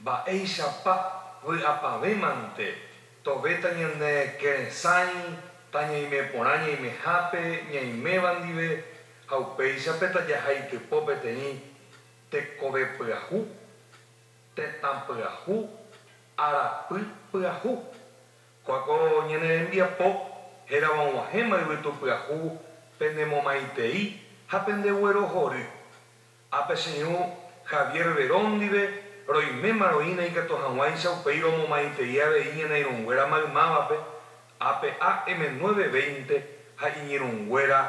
Mba'éichapa vy'apavẽ mante tove tañanekeresãi, tañaime porã ñaimehápe ñaiméva ndive, ha upéicha pe tajaha itypo peteĩ tekove pyahu, tetã pyahu, arapy pyahu. Kóa ko ñane rembiapo hérava og̃uahẽma yvytu pyahu pene momaitei ha pende guerohory. Ha pe señor Javier Verón ndive, roiméma roína ikatu hag̃uáicha upéi romomaitei avei ñanairũnguéra maymávape, ape AM 9:20 ha iñirũnguéra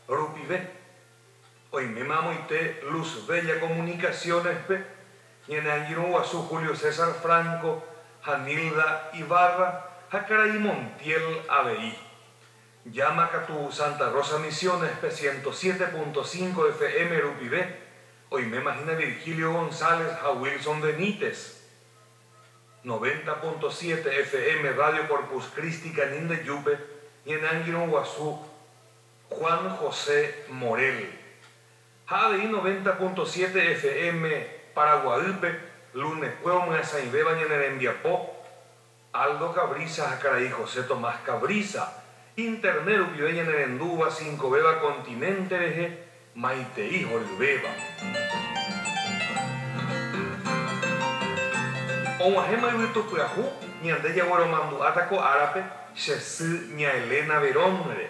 rupive. Oiméma amoite Luz Bella Comunicaciones-pe, ñane angirũ guasu Julio César Franco ha Nilda Ibarra ha karai Montiel avei. Llama katu Santa Rosa Misiones pe ciento siete punto cinco FM rupive, oiméma hína Virgilio González ha Wilson Benítez. Noventa punto siete FM Radio Corpus Christi Canindeyúpe ñane angirõ guasu Juan José Morel, ha avei noventa punto siete FM Paraguaýpe lunekue omyasãivéva ñane rembiapo, Aldo Cabrizas ha karai José Tomás Cabrizas, Internet rupive ñanerendúva cincovéva continente rehe, maitei horyvéva. Og̃uahẽma yvytu pyahu, ñande jagueromandu'áta ko árape, che sy, ña Elena Verón-re.